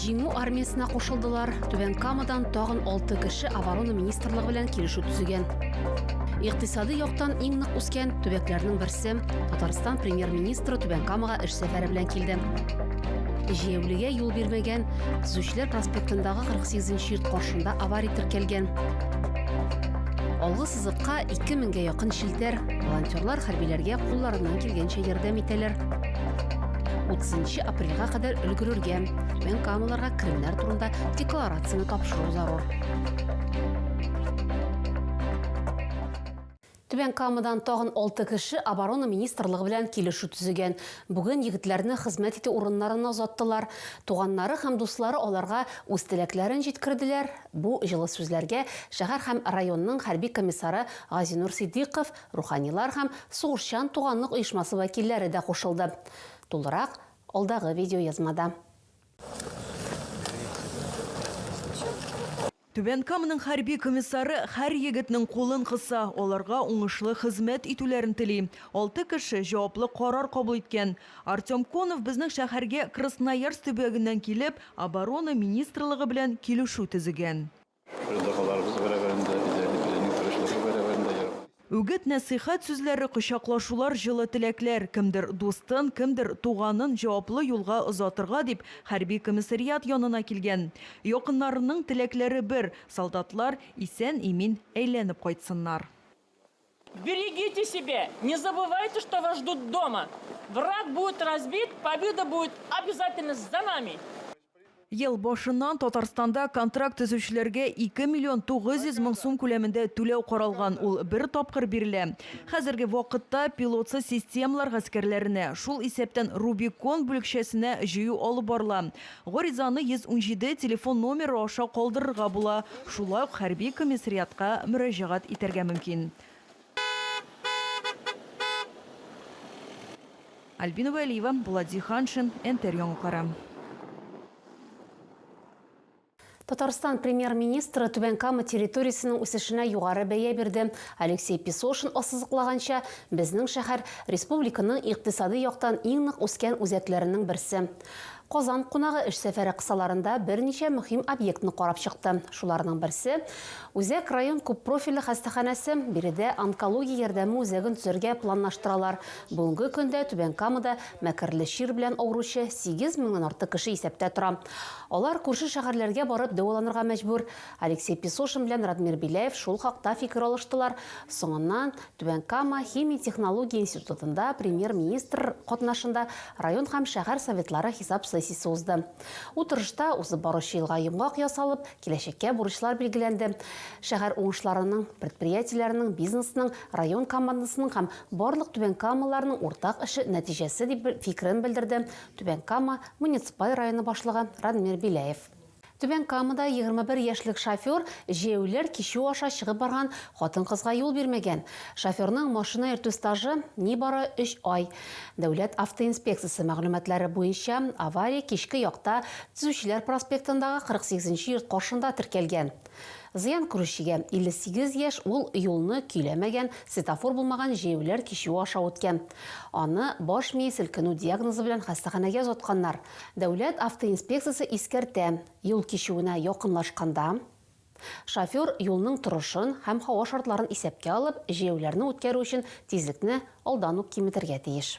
Җиңү армиясенә кушылдылар. Түбән Камадан тагын 6 кеше оборона министрлыгы белән килешү төзегән. Икътисади яктан иң нык үскән төбәкләрнең берсе. Татарстан премьер-министры Түбән Камага эш сәфәре белән килде. Җәяүлегә юл бирмәгән, Төзүчеләр проспектындагы 48 нче йорт каршында авария теркәлгән. Алгы Сызыкка 2000 гә якын челтәр. Волонтерлар хәрбиләргә кулларыннан килгәнчә ярдәм итәләр. 30 апрельгә кадәр өлгерергә, мен камаларга керемнәр турында декларацияне тапшыру зарур. Түбән Камадан тагын алты кеше оборона министрлыгы белән килешү төзегән. Бүген егетләрне хезмәт итү урыннарына озаттылар. Туганнары һәм дуслары аларга үз теләкләрен җиткерделәр, Бу җылы сүзләргә шәһәр һәм районның хәрби комиссары Газинур Ситдыйков, руханилар һәм Сугышчан туганлык оешмасы вәкилләре дә кушылды. Тулырак, алдагы видеоязмада. Түбән Каманың хәрби комиссары һәр егетнең кулын кыса, аларга уңышлы хезмәт итүләрен тели. Алты кеше җаваплы карар кабул иткән. Артем Конов безнең шәһәргә Красноярск төбәгеннән килеп, Оборона министрлыгы белән килешү төзегән. Ыждаһаларыбыз бәрабәрендә, безләрнекеләрнең тырышлыгы бәрабәрендә яратып. Үгет-нәсыйхәт сүзләре, кочаклашулар, җылы теләкләр, кемдер дустын, кемдер туганын җаваплы юлга озатырга дип хәрби комиссариат янына килгән. Якыннарының теләкләре бер, солдатлар исән-имин әйләнеп кайтсыннар. Берегите себе, не забывайте, что вас ждут дома. Враг будет разбит, победа будет обязательно за нами! Ел башыннан Татарстанда контракт төзүчеләргә 2 миллион 900 мең сум күләмендә түләү каралган, ул бер тапкыр бирелә. Хәзерге вакытта пилотсыз системалар гаскәрләренә, шул исәптән Рубикон бүлекчәсенә җыю алып барыла. Гаризаны 117 телефон номеры аша калдырырга була, шулай ук хәрби комиссариатка мөрәҗәгать итәргә мөмкин. Альбина Вәлиева, Булат Зиһаншин, НТР яңалыклары. Татарстан Премьер-министры Түбән Кама территориясенең үсешенә югары бәя бирде. Алексей Песошин ассызыклаганча, безнең шәһәр, республиканың икътисади яктан иң нык үскән үзәкләренең берсе. Казан кунагы эш сәфәре кысаларында берничә мөһим объектны карап чыкты. Шуларның берсе, Үзәк район күппрофильле хастаханәсе. Биредә онкология ярдәме үзәген төзергә планлаштыралар. Бүгенге көндә Түбән Камада мәкерле чир белән авыручы сигез меңнән артык кеше исәптә тора. Алар күрше шәһәрләргә барып дәваланырга мәҗбүр. Алексей Песошин белән Радмир Беляев шул хакта фикер алыштылар. Соңыннан Түбән Кама химия-технология институтында премьер-министр катнашында район һәм шәһәр советлары хисап сессиясе узды. Утырышта узып баручы елга йомгак ясалып, киләчәккә бурычлар билгеләнде. Шәһәр уңышларының, предприятиеләрнең, бизнесның, район командасының һәм барлык түбәнкамалыларның уртак эше нәтиҗәсе, дип фикерен белдерде Түбән Кама муниципаль районы башлыгы Радмир Беляев. Түбән Камада 21 яшьлек шофер җәяүлеләр кичү аша чыгып барган хатын-кызга юл бирмәгән. Шоферның машина йөртү стажы, нибары өч ай. Дәүләт автоинспекциясе мәгълүматлары буенча, авария кичке якта Төзүчеләр проспектындагы 48 нче йорт каршында теркәлгән. Зыян күрүчегә, 58 яшь, ул юлны көйләмәгән, светофор булмаган җәяүләр кичүе аша үткән. Аны баш мие селкенү диагнозы белән хастаханәгә озатканнар. Дәүләт автоинспекциясе искәртә, юл кичүенә якынлашканда, шофер юлның торышын һәм һава шартларын исәпкә алып, җәяүләрне үткәрү өчен тизлекне алдан ук киметергә тиеш.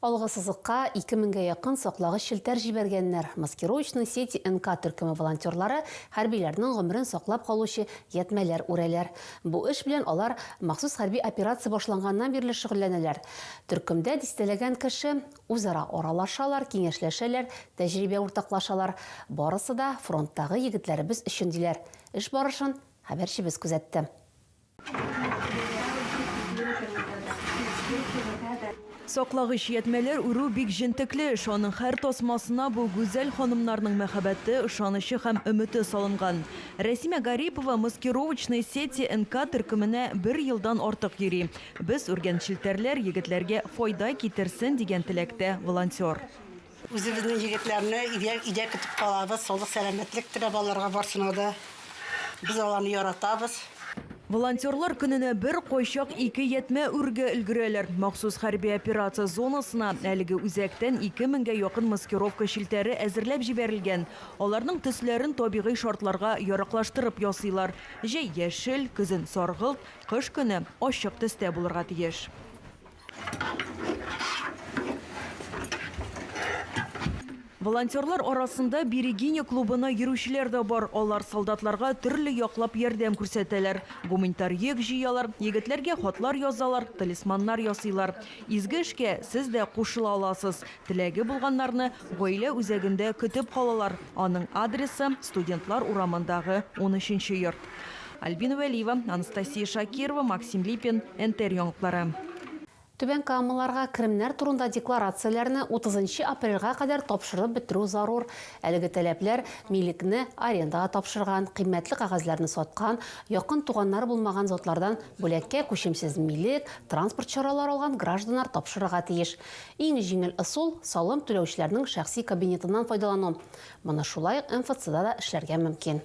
Алгы сызыкка ике меңгә якын саклагыч челтәр җибәргәннәр. Маскировочные сети НК төркеме волонтерлары хәрбиләрнең гомерен саклап калучы ятьмәләр үрәләр. Бу эш белән алар махсус хәрби операция башланганнан бирле шөгыльләнәләр. Төркемдә дистәләгән кеше. Үзара аралашалар, киңәшләшәләр, тәҗрибә уртаклашалар. Барысы да фронттагы егетләребез өчен, диләр. Эш барышын хәбәрчебез күзәтте. Саклагыч ятьмәләр үрү бик җентекле эш, аның һәр тасмасына бу гүзәл ханымнарның мәхәббәте, ышанычы һәм өмете салынган. Рәсимә Гарипова маскировочные сети НК төркеменә бер елдан артык йөри. Без, үргән челтәрләр егетләргә файда китерсен, дигән теләктә волонтер. Үзебезнең егетләрне өйдә өйдә көтеп калабыз, саулык сәламәтлек теләп аларга барсына да. Без аларны яратабыз. Волонтерлар көненә бер, кайчак ике ятьмә үрергә өлгерәләр. Махсус хәрби операция зонасына әлеге үзәктән ике меңгә якын маскировка челтәре әзерләп җибәрелгән. Аларның төсләрен табигый шартларга яраклаштырып ясыйлар, җәй, яшел, көзен, саргылт, кыш көне ачык төстә булырга тиеш. Волонтерлар арасында Берегиня клубына йөрүчеләр дә бар. Алар солдатларга төрле яклап ярдәм күрсәтәләр. Гуманитар йөк җыялар, егетләргә хатлар язалар, талисманнар ясыйлар. Изге эшкә сез дә кушыла аласыз. Теләге булганнарны гаилә үзәгендә көтеп калалар. Аның адресы, Студентлар урамындагы унөченче йорт. Альбина Вәлиева, Анастасия Шакирова, Максим Липин, НТР яңалыклары. Түбән Камаларга керемнәр турында декларацияләрне 30 нчы апрельгә кадәр тапшырып бетерү зарур. Әлеге таләпләр милекне арендага тапшырган, кыйммәтле кәгазьләрне саткан, якын туганнары булмаган затлардан бүләккә күчемсез милек, транспорт чаралары алган гражданнар тапшырырга тиеш. Иң җиңел ысул, салым түләүчеләрнең шәхси кабинетыннан файдалану. Моны шулай ук МФЦда да эшләргә мөмкин.